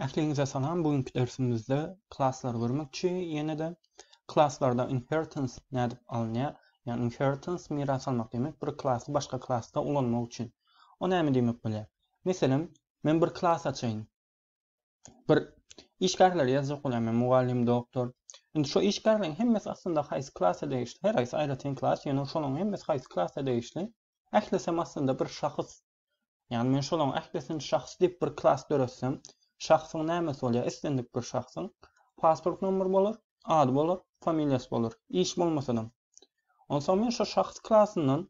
Ähliňize salam, bu günki dersimizde klasslary görmekçi, ýene-de klaslarda inheritance nädip alynýar? Ýagny inheritance miras almak diýmek, bir klasy başga klasda ulanmak üçin. O näme diýmek bolýar? Meselem, men bir klas açaýyn. Bir işgärleri ýazjak bolýan men mugallym, doktor. Indi şu işgärleriň hemmesi aslynda haýsy klasa degişli? Her haýsy aýratyn klas, ýöne şolaryň hemmesi haýsy klasa degişli? Ählisem aslynda bir şahs Ýagny men şolaryň ählisini şahs diýip bir klas döretsem, şahsyň nämesi bolýar? Islendik bir şahsyň pasport nomeri bolar, ady bolar, familiýasy bolar, iş bolmasadam. Onsoň men şo şahs klasyndan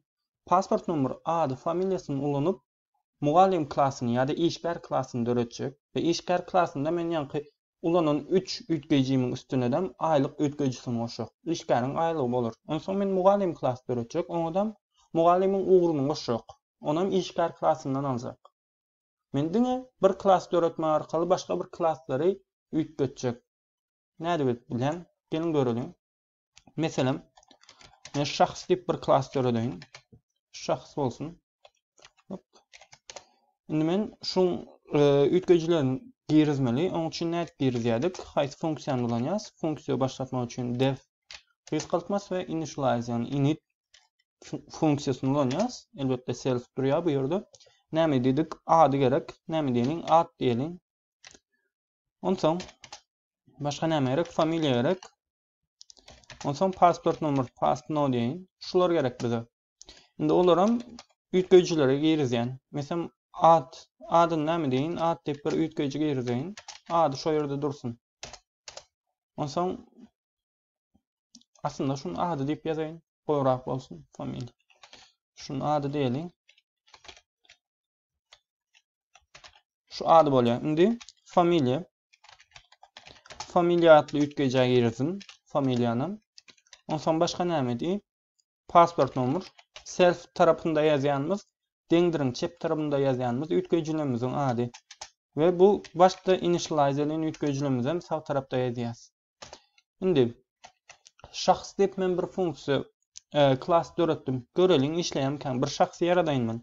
pasport nomeri, ady, familiýasyny ulanyp, mugallym klasyny ýa-da işgär klasyny döretjek we işgär klasynda men ýaňky Ulanan üç üýtgeýjimiň üstünedem aýlyk üýtgeýjisini goşjak. Işgäriň aýlygy bolar. Onsoň men mugallym klasy döretjek, oňadam mugallymyň ugruny goşjak. Onam işgär klasyndan aljak. Men diňe bir klas döretmek arkaly başga bir klaslary üýtgetjek. Nädip edip bilýän? Geliň göreliň. Meselem, men şahs diýip bir klas döredeýin. Şahs bolsun. Hop. Indi men şuň e, üýtgejilerini girizmeli. Onuň üçin nädip girizýärdik? Haýsy funksiýany ulanýas? Funksiýa başlatmak üçin def reskaltmas we initialize, ýagny init funksiýasyny ulanýas. Elbetde self durýar bu ýerde. Näme diýdik? Ady gerek. Näme diýeliň? Ad diýeliň. Onsoň başga näme gerek? Familiýa gerek. Ondan soň pasport nomer, pass no diýen. Şular gerek bize. Indi olaram üýtgeýjilere girizýän. Meselem ad, adyny näme diýin? Ad diýip bir üýtgeýji girizýän. Ady şu ýerde dursun. Ondan soň aslynda şuny ady diýip ýazaýyn. Gowrak bolsun familiýa. Şuny ady diýeliň. Şu ady bolýar. Indi familiýa. Familiýa atly üýtgeýjä giresin. Familiýany. Onsoň başga näme diý? Pasport nomer. Self tarapynda ýazýanymyz, deňdiriň çep tarapynda ýazýanymyz üýtgeýjilerimiziň ady. We bu başda initialize edýän üýtgeýjilerimizi hem sag tarapda ýazýas. Indi şahs diýip men bir funksiýa e, klas döretdim. Göreliň işleýärmikä? Bir şahsy ýaradaýyn men.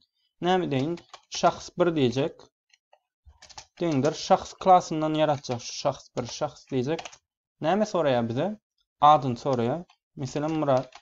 Näme deýin? Şahs 1 diýjek. Deňdir şahs klasyndan ýaratjak şu şahs 1 şahs diýjek. Näme soraýar bize? Adyny soraýar. Meselem Murat.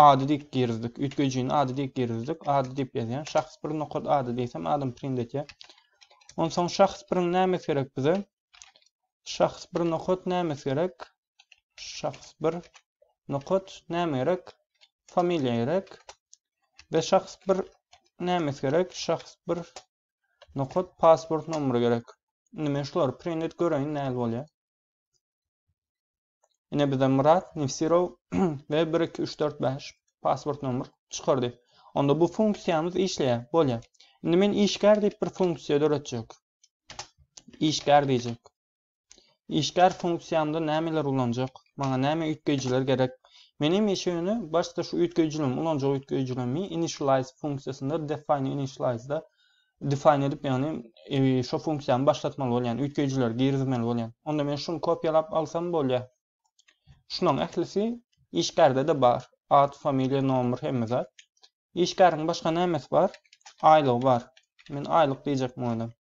Ady diýip girizdik. Üýtgejini ady diýip girizdik. Ady diýip ýazýan. Şahs bir nokat ady diýsem adam print etýär. Onsoň şahs biriň nämes gerek bize? Şahs bir nokat nämes gerek? Şahs bir nokat näme gerek? Familiýa gerek. Ve şahs bir nämes gerek? Şahs bir nokat pasport nomeri gerek. Indi men şulary print et göreýin näl bolýar. Ine bize Murat Nefsirow we 1 2 3 4 5 pasport nomer çykardy. Onda bu funksiýamyz işleýär, bolýar. Indi men işgär diýip bir funksiýa döretjek. Işgär diýjek. Işgär funksiýamda nämeler ulanjak? Maňa näme üýtgeýjiler gerek? Men hemişe ýöne başda şu üýtgeýjilerimi ulanjak üýtgeýjilerimi initialize funksiýasynda define initialize-da define edip ýagny şo funksiýany başlatmaly bolýan üýtgeýjileri girizmeli bolýan. Onda men şuny kopýalap alsam bolýa. Şunuň ählisi işgärde de bar. Ad, familiýa, nomer hemme zat. Işgäriň başga nämesi bar? Aýlygy bar. Men aýlyk diýjek mugaddam.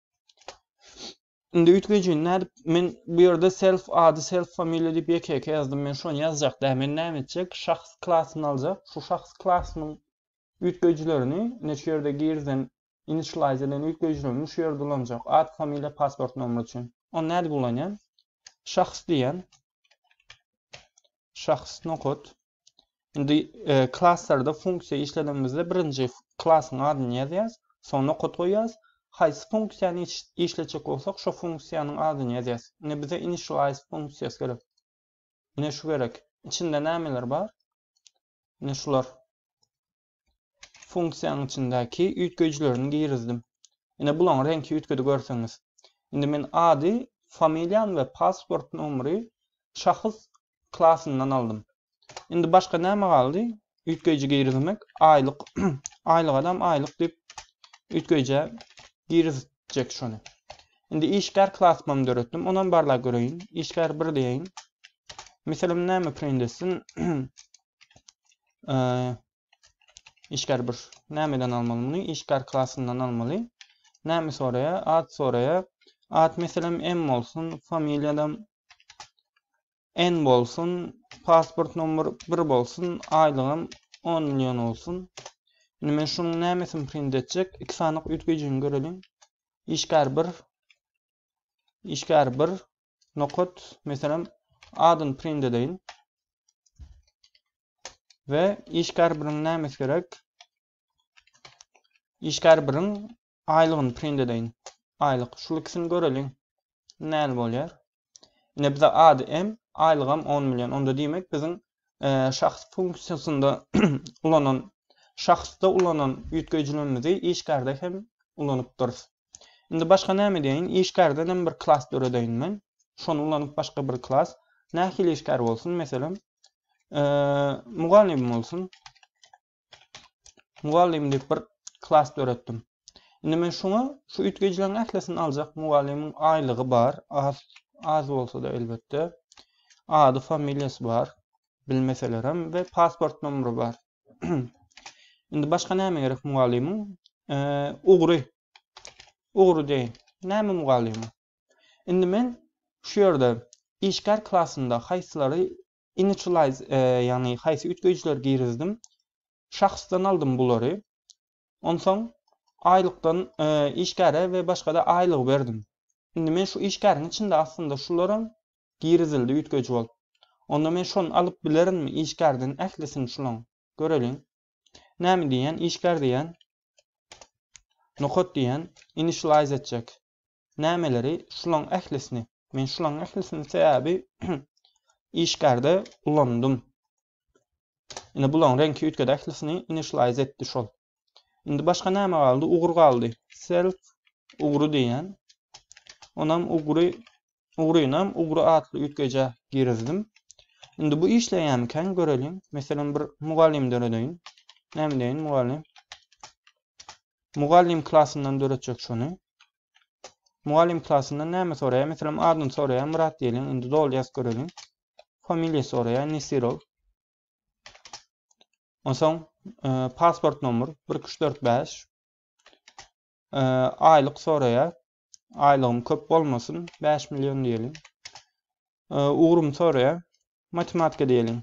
Indi üýtgejini nädip men bu ýerde self ady self familiýa diýip ýeke-ýeke ýazdym men şony ýazjak däl men näme etjek şahs klasyny aljak şu şahs klasynyň üýtgejilerini ine şu ýerde girizen initialize edilen üýtgejilerini şu ýerde ulanjak ad familiýa pasport nomry üçin ony nädip ulanýan şahs diýýän şahs nokat indi e, klasslarda funksiýa işledimizde birinji klasyň adyny ýazýas soň nokat goýýas haýsy funksiýany işletjek bolsak şo funksiýanyň adyny ýazýas indi bize initialize funksiýasy gerek ine şu gerek içinde nämeler bar ine şular funksiýanyň içindäki üýtgeýjilerini girizdim. Ine bulaň reňki üýtgedi görseňiz. Indi men ady, familiýany we pasport nomeri şahs klasyndan aldym. Indi başga näme galdy? Üýtgeýji girizmek, aýlyk, aýlyk adam aýlyk diýip üýtgeýjä girizjek şony. Indi işgär klasymy döretdim. Onam barlap göreýin. Işgär 1 diýeýin. Misalim näme print etsin? e, işgär bir nämeden almaly muny? Işgär klasyndan almaly. Näme soraýa? Ad soraýa. Ad meselem M bolsun, familiýadam N bolsun, pasport nomer 1 bolsun, aýlygym 10 million bolsun. Indi men şunuň nämesini print etjek? Iki sanyk üýtgejini görelim. Işgär 1 işgär 1 nokat, meselem, adyny print edeýin. We işgär biriň nämes gerek? Işgär biriň aýlygyny print edeýin. Aýlyk. Şu ikisini göreliň. Näme bolýar? Ine bize ady hem, aýlygam 10 million. Onda diýmek biziň şahs funksiýasynda ulanan şahsda ulanan üýtgeýjilerimizi işgärde hem ulanypdyrys. Indi başga näme diýeýin? Işgärden hem bir klas döredeýin men. Şony ulanyp başga bir klas. Nähili işgär bolsun? Meselem, mugallym bolsun. Mugallym diýip bir klas döretdim. Indi men şuňa şu üýtgejileriň ählisini aljak. Mugallymyň aýlygy bar, az az bolsa-da elbetde. Ady, familiýasy bar. Bilmeselerem we pasport nomeri bar. Indi başga näme gerek mugallymyň? E, ugry. Ugry deýin. Näme mugallymyň? Indi men şu ýerde işgär klasynda haýsylary Initialize, ýagny haýsy üýtgeýjileri girizdim? Şahsdan aldym bulary. Onsoň aýlykdan işgäre we başga-da aýlygy berdim. Indi men şu işgäriň içinde aslynda şularam girizildi üýtgeýji bolup. Onda men şony alyp bilerinmi işgärden ählisini şulaň? Göreliň. Näme diýýän? Işgär diýýän. Nokat diýýän. Initialize etjek. nämeleri şulaň ählisini men şulaň ählisini sebäbi işgärde ulandym indi bulaň reňki üýtgedi ählisini initialize etdi şol indi başga näme galdy ugur galdy self ugry diýen onam ugry ugrynam ugry atly üýtgeje girizdim indi bu işleýämikäň göreliň meselem bir mugallym döredeýin näme diýen mugallym Mugallym klasyndan döretjek şony. Mugallym klasyndan näme soraýar? Meselem, adyny soraýar, Myrat diýeliň. Indi doly ýazyp göreliň. Familiýa soraýar, Nesirow. Onsoň e, pasport nomer 1345. E, aýlyk soraýar. Aýlygym köp bolmasyn, 5 million diýeliň. E, ugrym soraýar. Matematika diýeliň.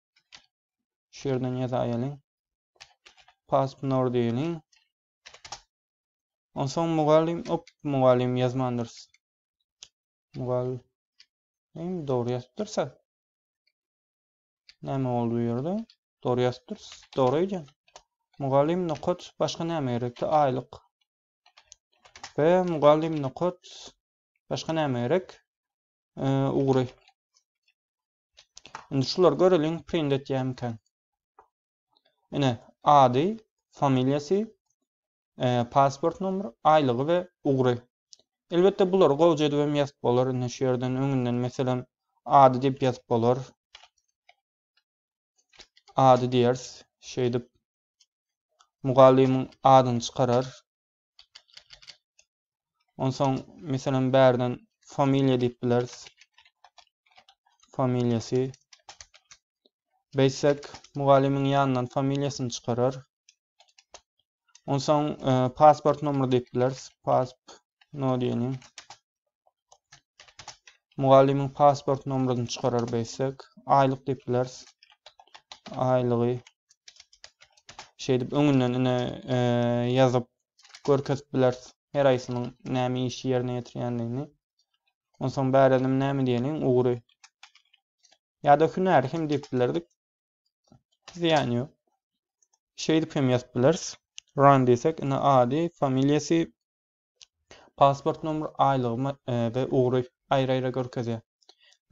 Şu ýerden ýazaýalyň. Paspnor diýeliň. Onsoň mugallym, op, mugallym ýazmandyrys. Mugallym dogry ýazypdyrsa. Näme boldy bu ýerde? Dogry ýazypdyrys. Dogry eýdýän. Mugallym nokat başga näme gerekdi? Aýlyk. Ve mugallym nokat başga näme gerek? Ee, ugry. Indi şular göreliň print etýämikä. Ine ady, familiýasy, e, pasport nomeri, aýlygy we ugry. Elbetde bulary gowja edip hem ýazyp bolar. Indi şu ýerden öňünden meselem ady diýip ýazyp bolar. Ady diýeris. Şeýdip mugallymyň adyny çykarar. Onsoň meselem bärden familiýa diýip bileris. Familiýasy. Beýtsek mugallymyň ýanyndan familiýasyny çykarar. Onsoň e, pasport nomeri diýip bileris. Pasp no diýelim. Mugallymyň pasport nomeryny çykarar beýtsek, aýlyk diýip bileris. Aýlygy şeýdip öňünden ine e, ýazyp görkezip bileris. Her aýsynyň näme işi ýerine ýetirýändigini. Onsoň bärelim näme diýeliň ugry. Ýa-da hünäri hem diýip bilerdik. Ziýan ýok. Şeýdip hem ýazyp bileris. Run diýsek, ine ady, familiýasy, Pasport nomer aýlygymy we ugry aýry-aýry görkezýär.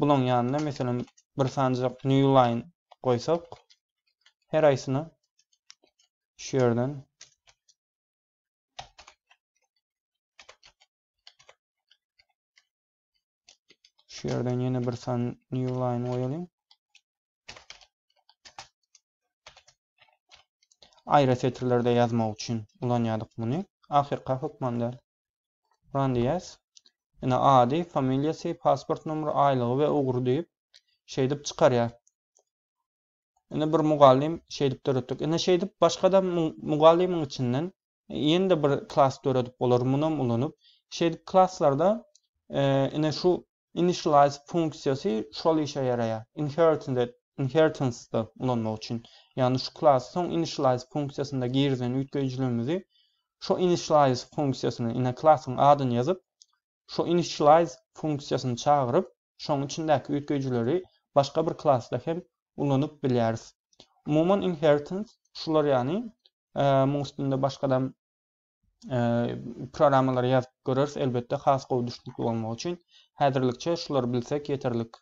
Bulaň ýanyna meselem bir sanjak New Line goýsak, her aýsyna şu ýerden şu ýerden ýene bir san New Line goýalyň. Aýra setirlerde ýazmak üçin ulanýardyk muny. Ahyrka hökman däl. Run diýýäs. Ine ady, familiýasy, pasport nomeri, aýlygy we ugry diýip şeýdip çykarýar. Indi bir mugallym şeýdip döretdik. Indi şeýdip başga-da mugallymyň içinden Ýene-de bir klas döredip bolar, munam ulanyp. Şeýdip klaslarda ine şu initialize funksiýasy şol işe ýaraýar. Inheritance inheritance-da ulanmak üçin. Ýagny şu klasy soň initialize funksiýasynda girizen üýtgeýjiligimizi şu initialize funksiýasyna ine klasyň adyny ýazyp Şu initialize funksiýasyny çagyryp, şoň içindäki üýtgeýjileri başga bir klasda hem ulanyp bilýäris. Umuman inheritance şular ýany, muň üstünde başgadam programmalary ýazyp göreris elbetde has gowy düşnükli bolmagy üçin. Häzirlikçe şulary bilsek ýeterlik.